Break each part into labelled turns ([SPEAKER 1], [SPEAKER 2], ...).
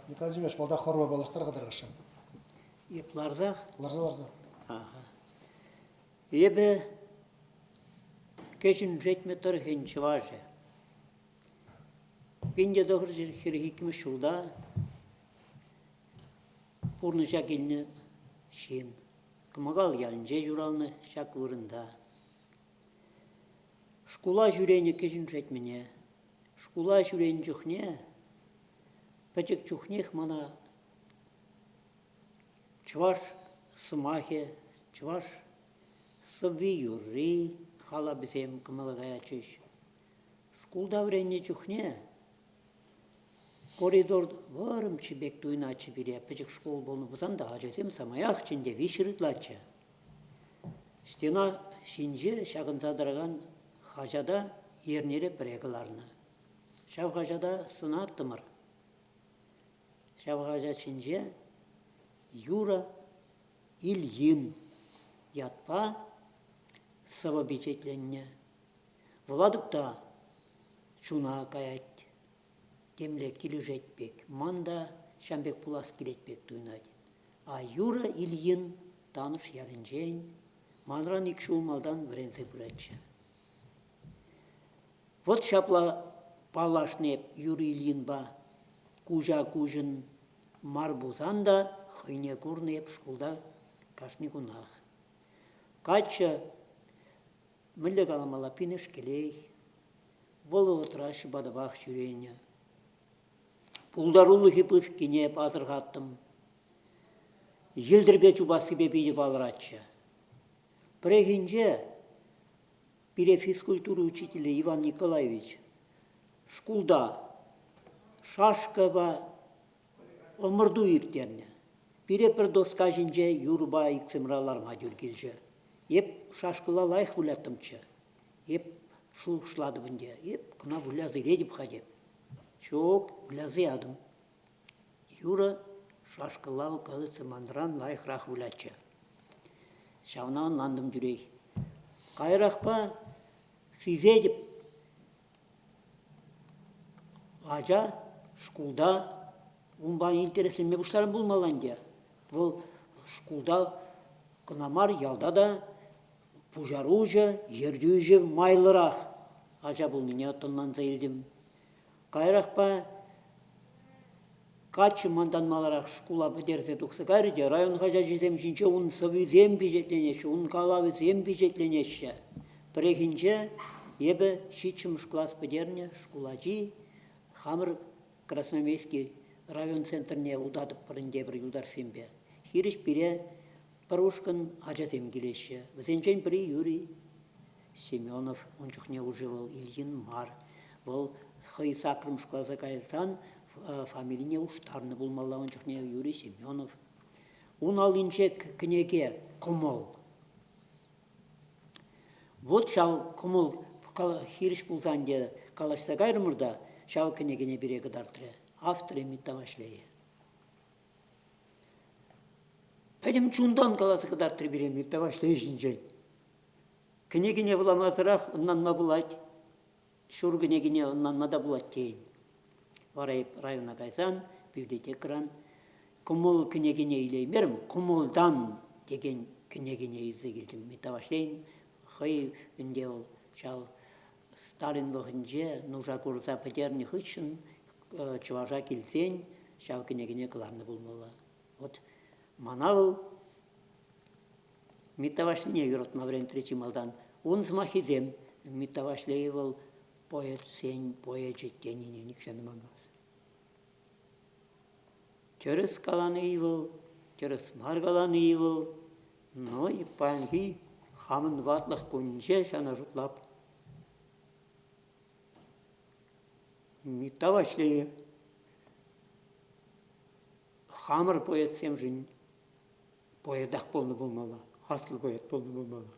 [SPEAKER 1] Николай Владимирович, малта хорва паллаштар-ха тӑрӑшшӑн. Эп ларса? Ларса, ларса. Эпӗ кӗҫӗн Шетмӗ тӑрӑхӗн чӑвашӗ. Пинте тӑхӑр хӗрӗх иккӗмӗш ҫулта пурнӑҫа килнӗ ҫын. Кӑмӑкал ялӗнче ҫуралнӑ ҫак вырӑнта. Шкула ҫӳренӗ кӗҫӗн Шетмӗне, шкула ҫӳренӗ чухне, пӗчӗк чухнех мана чӑваш сӑмахӗ, чӑваш сӑвви-юрри, халапӗсем кӑмӑла каятчӗҫ. Шкулта вӗреннӗ чухне Коридор вӑрӑмччӗ пек туйӑнатчӗ пире. Пӗчӗк шкул пулнӑ пулсан та ачасем самаях чӗнте виҫҫӗ ытлаччӗ. Стена ҫинче ҫакӑнса тӑракан хаҫата эрнере пӗрре кӑларнӑ. Ҫав хаҫата сӑнаттӑмӑр. Ҫав хаҫат ҫинче Юра Ильин ятпа сӑвӑ пичетленнӗ. Вӑла тукта чуна каять. Темле килӗшет пек. Ман та ҫав пек пулас килет пек туйӑнать. А юрӑ Ильин Танӑш ялӗнчен манран ик ҫул малтан вӗренсе пыратчӗ. Вот ҫапла паллашнӑ эп Юрий Ильинпа. Куҫа-куҫӑн мар пулсан та хӑйне курнӑ эп шкулта кашни кунах. Каччӑ, мӗнле каламалла, пинӗш кӗлех. Вӑл вӑхӑтра ҫӑпатапах ҫӳренӗ. Пултарулӑхӗ пысӑккине пасӑрхаттӑм. Йӗлтӗрпе чупассипе питӗ палӑратчӗ. Пӗррехинче пире физкультура учителӗ Иван Николаевич шкулта шашкӑпа ӑмӑрту ирттернӗ. Пире пӗр доска ҫинче юрӑпа иксӗмӗре ларма тӳр килчӗ. Эп шашкӑла лайӑх выляттӑмччӗ. Эп шухӑшлатӑп ӗнтӗ, эп кӑна выляса илетӗп-ха теп. Ҫук, выляса ятӑм. Юрӑ шашкӑлла кажется, манран лайӑхрах вылятчӗ. Ҫавна ӑнлантӑм тӳрех. Каярахпа сисетӗп, ача шкулта унпа интересленме пуҫларан пулмалла ӗнтӗ. Вӑл шкулта кӑна мар, ялта та Пуҫаруҫӑ ертӳҫӗ майлӑрах ача пулнине тӑнланса илтӗм. Каярахпа каччӑ мантан маларах шкула пӗтерсе тухса кайрӗ те район хаҫачӗсем ҫинче ун сӑвисем пичетленеҫҫӗ, ун калавӗсем пичетленеҫҫӗ. Пӗррехинче эпӗ ҫиччӗмӗш класс пӗтернӗ шкул ачи хамӑр Красноярский район центрне утатӑпӑр ӗнтӗ пӗр юлташсемпе. Хирӗҫ пире Пӗр ушкӑн ачасем килеҫҫӗ. Вӗсенчен пӗри Юрий Семенов. Ун чухне уже вӑл Ильин мар. Вӑл хӑй саккӑрм шкулласа кайсан фамилине уштарнӑ пулмалла ун чухне Юрий Семенов. Ун аллинче кӗнеке кӑмӑл. Вот ҫав кӑмӑл хирӗҫ пулсан те калаҫса кайрӑмӑр та ҫав кӗнекене пире кӑтартрӗ. Авторӗ Митта Ваҫлейӗ. Пӗтӗм чунтан каласа кӑтартрӗ пире Миктаваҫли ҫинчен. Кӗнекине вуламасӑрах ӑнланма пулать, ҫур кӗнекине ӑнланма та пулать тейӗн. Вара эп района кайсан библиотекӑран кӑмӑл кӗнекине илеймерӗм, кӑмӑлтан текен кӗнекине илсе килтӗм Миктаваҫлин. Хӑй ӗнтӗ вӑл ҫав Сталин вӑхӑтӗнче нуша курса пӗтернӗ хыҫҫӑн чӑваша килсен ҫав кӗнекене кӑларнӑ пулмалла. Вот мана вӑл Митта Ваҫлине юратма вӗрентрӗ чи малтан. Ун сӑмахӗсем Митта Ваҫлей вӑл поэтсен поэчӗ тенине нихҫан ӑманмасть. Тӗрӗс калани вӑл, тӗрӗс мар калани вӑл, но паянхи хамӑн ватлӑх кунӗнче ҫавна шутлап. Митта Ваҫлейӗ хамӑр поэтсемшӗн поэтах пулнӑ пулмалла, аслӑ поэт пулнӑ пулмалла.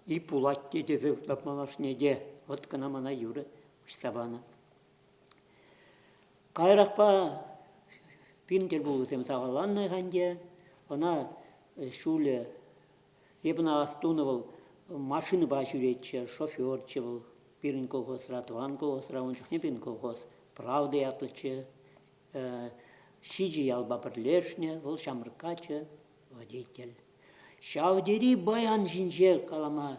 [SPEAKER 1] И пулать те тесе шутлап малашне те, вӑт кӑна мана юрӑ уҫса панӑ. Каярахпа пин тӗлпулусем сахалланнӑ ӗнтӗ. Ӑна ҫулӗ эпӗн астунӑ вӑл машинӑпа ҫӳретчӗ, шоферччӗ вӑл пирӗн колхозра, тӑван колхозра, ун чухне пирӗн колхоз Правда ятлӑччӗ. Ҫичӗ ялпа пӗрлешнӗ, вӑл ҫамрӑк каччӑ. водитель. Ҫав тери баян ҫинче калама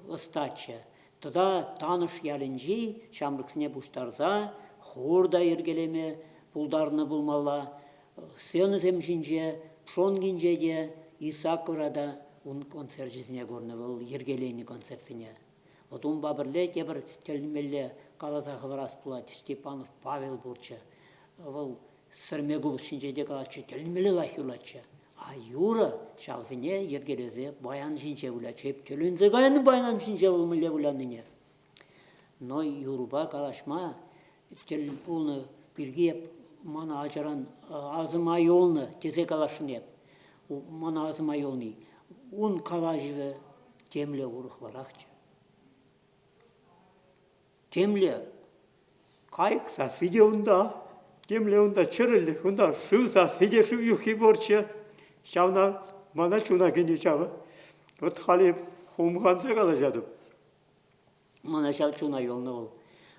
[SPEAKER 1] ӑстаччӗ. Тата Танӑш ялӗнчи ҫамрӑксене пуҫтарса хор та йӗркелеме пултарнӑ пулмалла. Сценӑсем ҫинче, Пшонкинче те, Исакова та ун концерчӗсене курнӑ вӑл йӗркеленӗ концертсене. Вӑт унпа пӗрле тепӗр тӗлӗнмелле каласа хӑварас пулать, Степанов Павел пурччӗ. Вӑл Сӗрме купӑсҫинче те калатчӗ, тӗлӗнмелле лайӑх юлатчӗ. А юрӑ ҫавсене йӗркелесе баян ҫинче вылятчӗ. Эп тӗлӗнсе кайнӑ баян ҫинче вӑл мӗнле выляннине. Но юрӑпа калаҫма тӗл пулнӑ пирки эп мана ачаран асӑма юлнӑ тесе каласшӑн эп. Мана асӑма юлни. Ун калаҫӑвӗ темле урӑхларахчӗ. Темле кайӑк сасси те унта, темле унта чӗрӗлӗх, унта шыв сасси те шыв юххи пурччӗ. Ҫавна мана чуна кӗнӗ ҫавӑ. Вот халӗ хумханса калаҫатӑп. Мана ҫав чуна юлнӑ вӑл.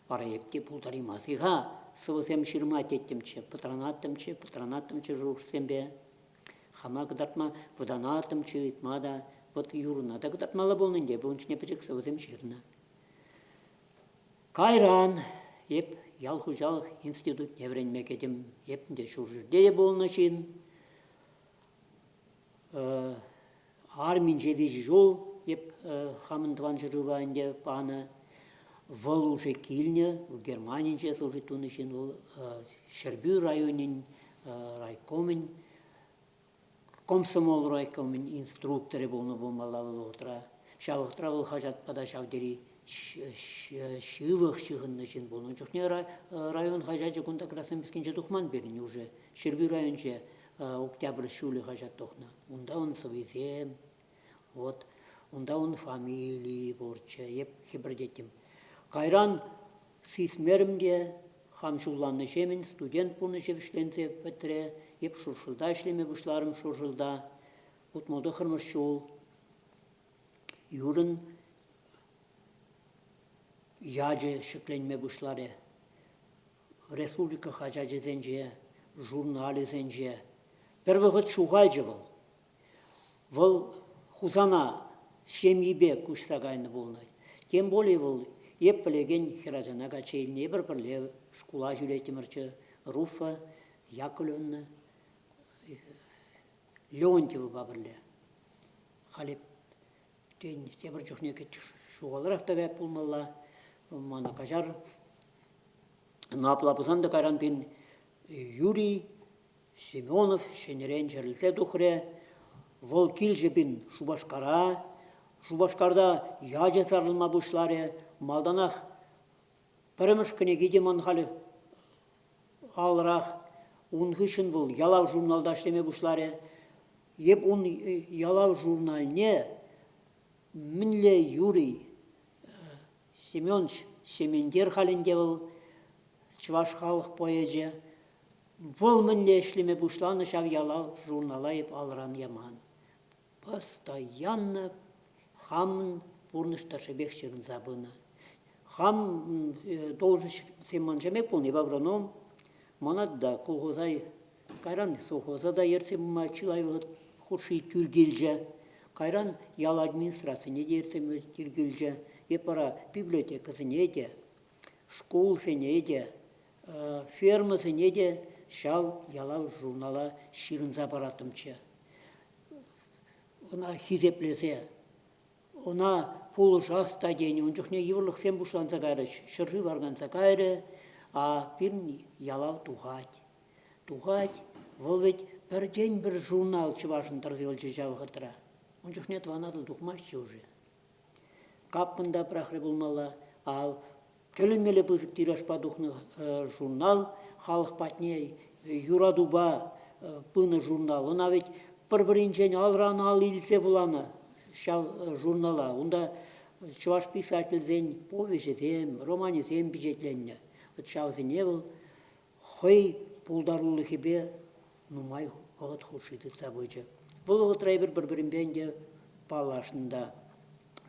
[SPEAKER 1] Вара эп те пултараймас-и-ха сӑвӑсем ҫырма теттӗмччӗ, пӑтранаттӑмччӗ, пӑтранаттӑмччӗ шухӑшсемпе. Хама кӑтартма вӑтанаттӑмччӗ, ыйтма та. Вот Юрӑна та кӑтартмалла пулнӑ ӗнтӗ, ун ҫине пӗчӗк сӑвӑсем ҫырнӑ. Кайран эп ял хуҫалӑх институтне вӗренме кӗтӗм. Эпӗ те ҫурҫӗрте пулнӑ ҫын. Арминче виҫӗ ҫул эп хамӑн тӑван ҫӗршыва ӗнтӗ панӑ. Вӑл уже килнӗ, Германинче служить тунӑ ҫын вӑл. Ҫӗрпӳ районӗн райкомӗн Комсомол райкомӗн инструкторӗ пулнӑ пулмалла вӑл вӑхӑтра. Ҫав вӑхӑтра вӑл хаҫатпа та ҫав тери ҫывӑх ҫыхӑннӑ ҫын пулнӑ. Ун чухне район хаҫачӗ кунта Красноярскинче тухман пирӗн уже. Ҫӗрпӳ районӗнче Октябрь ҫулӗ хаҫат тухнӑ. Унта ун сӑвисем, вот унта ун фамилийӗ пурччӗ. Эп хӗпӗртеттӗм. Кайран Сисмерӗм те, хам ҫулланнӑҫемӗн студент пурнӑҫӗ вӗҫленсе пӗтрӗ, эп Шуршӑлта ӗҫлеме пуҫларӑм. Шуршӑлта утма тӑххӑрмӗш ҫул. Юрӑн ячӗ ҫӗкленме пуҫларӗ. Республика хаҫачӗсенче, журналӗсенче. Пӗр вӑхӑт ҫухалчӗ вӑл. Вӑл Хусана ҫемйипе куҫса кайнӑ пулнӑ. Тем пулин вӑл эп пӗлекен хӗрачана качча илнӗ. Эпир пӗрле шкула ҫӳреттӗмӗрччӗ. Руфа Яковлевна Леонтьевӑпа пӗрле. Халӗ, тен, тепӗр чухне ҫухалрах та каять пулмалла. Мана каҫар. Ӑна апла пулсан та кайран, тен, Юрий Семенов ҫӗнӗрен чӗрӗлсе тухрӗ. Вӑл килчӗ пин Шупашкара. Шупашкарта ячӗ сарӑлма пуҫларӗ. Малтанах пӗрремӗш кӗнеки те ман халь алрах. Ун хыҫҫӑн вӑл ялав журналта ӗҫлеме пуҫларӗ. Эп ун ялав журнальне мӗнле Юрий Семенович Сементер халь ӗнтӗ вӑл чӑваш халӑх поэчӗ. Вӑл мӗнле ӗҫлеме пуҫланӑ ҫав ялав журнала эп алран яман. Постоянно хамӑн пурнӑҫ тӑршшӗпех ҫырӑнса пынӑ. Хам должноҫсем маншамех пулни в агроном, манатта колхозай кайран совхоза та ертсе пыма чылай вӑхӑт хушши тӳр килчӗ. Кайран ял администрацине те ертсе пыма тӳр килчӗ. Эп вара библиотекӑсене те, шкулсене те Фермӑсене те ҫав ялав-журнала ҫырӑнса параттӑмччӗ. Ӑна хисеплесе, ӑна пулӑшас та тенӗ. Ун чухне йывӑрлӑхсем пуҫланса кайрӗҫ. Ҫӗршыв арканса кайрӗ, а пирӗн ялав тухать. Тухать. Вӑл вӗт пӗртен-пӗр журнал Чӑвашӑн тӑрса юлчӗ ҫав вӑхӑтра. Ун чухне Тӑван Атӑл тухмастчӗ уже. Каппӑн та пӑрахрӗ пулмалла. Ав, тӗлӗнмелле пысӑк тиражпа тухнӑ журнал халӑх патне юратупа пынӑ журнал. Ӑна ведь пӗр-пӗринчен алран-ал илсе вуланӑ ҫав журнала. Унта чӑваш писательсен повеҫӗсем, романӗсем пичетленнӗ. Вӑт ҫавсене вӑл хӑй пултарулӑхӗпе нумай вӑхӑт хушши тытса пычӗ. Вӑл вӑхӑтра эпир пӗр-пӗринпе ӗнтӗ паллашнӑ та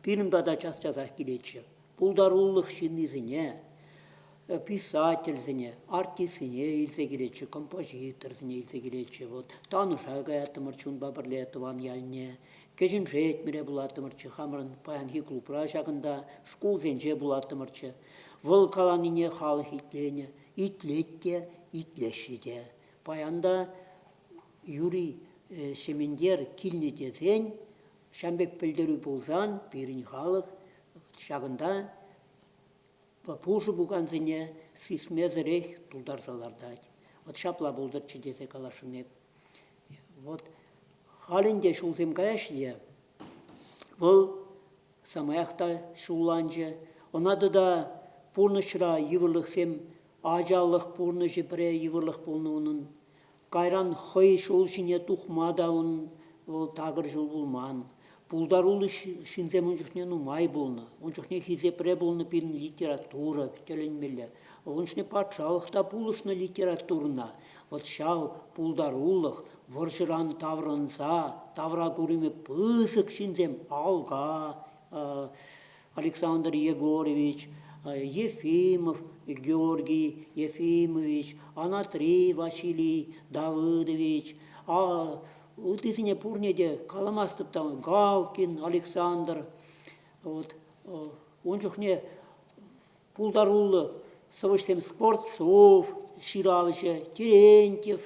[SPEAKER 1] пирӗн пата час-часах килетчӗ. Пултарулӑх ҫыннисене, э, писательсене, артистсене илсе килетчӗ, композиторсене илсе килетчӗ. Вот Тануша каяттӑмӑрччӗ унпа пӗрле тӑван ялне, Кӗҫӗн Шетмӗре пулаттӑмӑрччӗ, хамӑрӑн паянхи клубра ҫакӑнта, шкулсенче пулаттӑмӑрччӗ. Вӑл каланине халӑх итленӗ, итлет те, итлеҫҫӗ те. Паянта Юрий Сементер килнӗ тесен, ҫан пек пӗлтерӳ пулсан, пирӗн халӑх ҫакӑнта пушӑ пукансене сисмесӗрех тултарса лартать. Вӑт ҫапла пултӑрччӗ тесе каласшӑн эп. Вот халь ӗнтӗ ҫулсем каяҫҫӗ те, вӑл самаях та ҫулланчӗ. Ӑна тата пурнӑҫра йывӑрлӑхсем, ачалӑх пурнӑҫӗ пӗре йывӑрлӑх пулнӑ унӑн. Кайран хӑй ҫул ҫине тухма та унӑн вӑл такӑр ҫул пулман. Пултаруллӑ ҫынсем ун чухне нумай пулнӑ. Ун чухне хисепре пулнӑ пирӗн литература тӗлӗнмелле. Ун чухне патшалӑх та пулӑшнӑ литературӑна. Вӑт ҫав пултарулӑх, вӑрҫӑран таврӑнса тавра курӑмӗ пысӑк ҫынсем Алга, Александр Егорович, Ефимов Георгий Ефимович, Анатри Василий Давыдович, ыттисене пурне те каламастӑп та, Галкин Александр, вот ун чухне пултаруллӑ сӑвӑҫсем Скворцов ҫыравҫӑ, Терентьев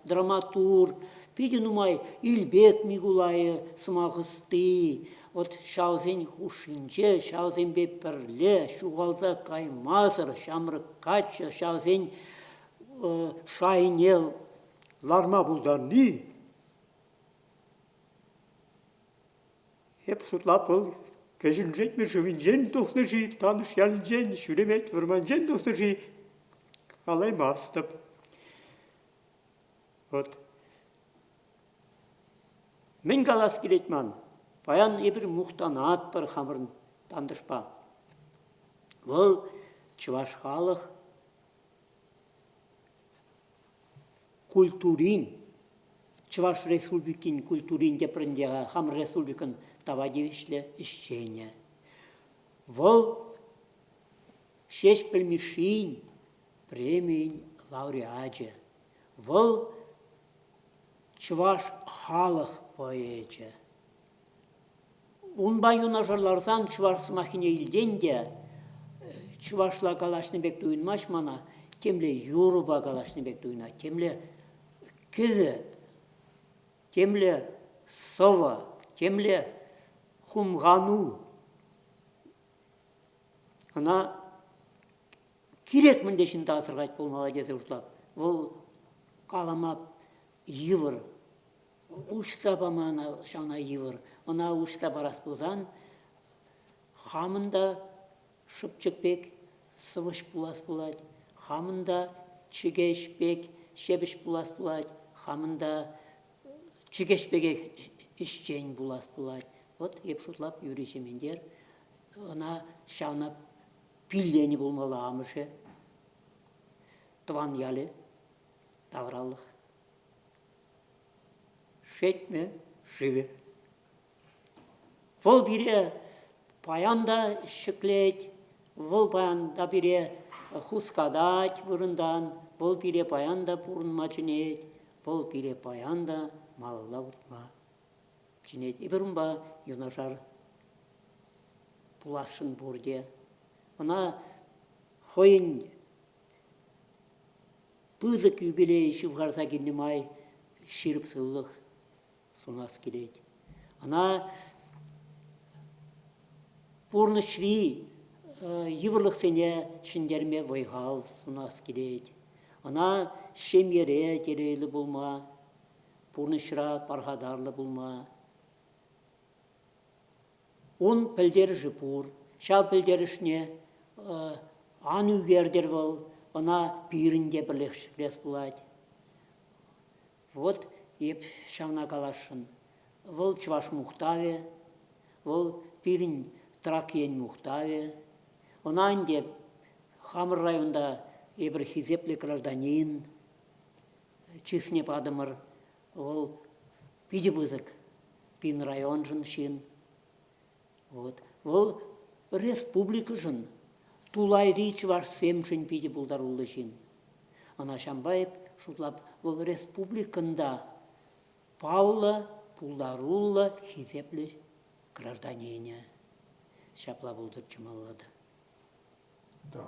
[SPEAKER 1] драматург, питӗ нумай Илпек Микулайӗ сӑмах ӑсти. Вӑт ҫавсен хушшинче ҫавсемпе пӗрле ҫухалса каймасӑр ҫамрӑк каччӑ ҫавсен шайне ларма пултарни Эп шутла пыл Кӗҫӗн Шетмӗ шывӗнчен тухнӑ-ши, Танӑш ялӗнчен, Шӳремет вӑрманчен тухнӑ-ши – калаймастӑп. Вӑт. Мӗн калас килет ман? Паян эпир мухтанатпӑр хамӑрӑн тантӑшпа. Вӑл – чӑваш халӑх. культурин, Чӑваш Республикин культурин тепринче хамӑр республикӑн тава тивӗҫлӗ ӗҫченӗ. Вӑл Ҫеҫпӗл Мишшин премийӗн лауреачӗ. Вӑл чӑваш халӑх поэчӗ. Унпа юнашар ларсан чӑваш сӑмаххине илтен те чӑвашла калаҫнӑ пек туйӑнмасть мана, темле юрӑпа калаҫнӑ пек туйӑнать, темле кӗвӗ, темле сӑвӑ, темле хумхану. Ӑна кирек мӗнле ҫынта асӑрхать пулмалла тесе шутлап. Вӑл калама йывӑр. уҫса пама ҫавна йывӑр. Ӑна уҫса парас пулсан хамӑн та шӑпчӑк пек сӑвӑҫ пулас пулать, хамӑн та чӗкеҫ пек ҫепӗҫ пулас пулать, хамӑн та чӗкеҫ пекех ӗҫчен пулас пулать. Вӑт эп шутлап Юрий Сементер ӑна ҫавна пилленӗ пулмалла амӑшӗ, тӑван ялӗ тавралӑх. Шетмӗ шывӗ. Вӑл пире паян та ҫӗклет, вӑл паян та пире хускатать вырӑнтан, вӑл пире паян та пурӑнма чӗнет, вӑл пире паян та малалла утма чӗнет. Эпир унпа юнашар пуласшӑн пурте. Ӑна хӑйӗн Пысӑк юбилей ҫывхарса килнӗ май ҫирӗп сывлӑх сунас килет. Ӑна пурнӑҫри йывӑрлӑхсене ҫӗнтерме вӑй-хал сунас килет. Ӑна ҫемьере телейлӗ пулма, пурнӑҫра пархатарлӑ пулма, Ун пӗлтерӗшӗ пур. Ҫав пӗлтерӗшне ан ӳкертӗр вӑл, ӑна пирӗн те пӗрлех ҫӗклес пулать. Вот эп ҫавна каласшӑн. Вӑл чӑваш мухтавӗ, вӑл пирӗн Трак ен мухтавӗ. Ӑна ӗнтӗ хамӑр районта эпир хисеплӗ гражданин чысне патӑмӑр. Вӑл питӗ пысӑк пин районшӑн ҫын. Вот. Вӑл республикӑшӑн, тулайри чӑвашсемшӗн питӗ пултаруллӑ ҫын. Ӑна ҫампа эп шутлап, вӑл республикӑн та паллӑ, пултаруллӑ, хисеплӗ гражданинӗ. Ҫапла пултӑр чӑмӑллӑ та.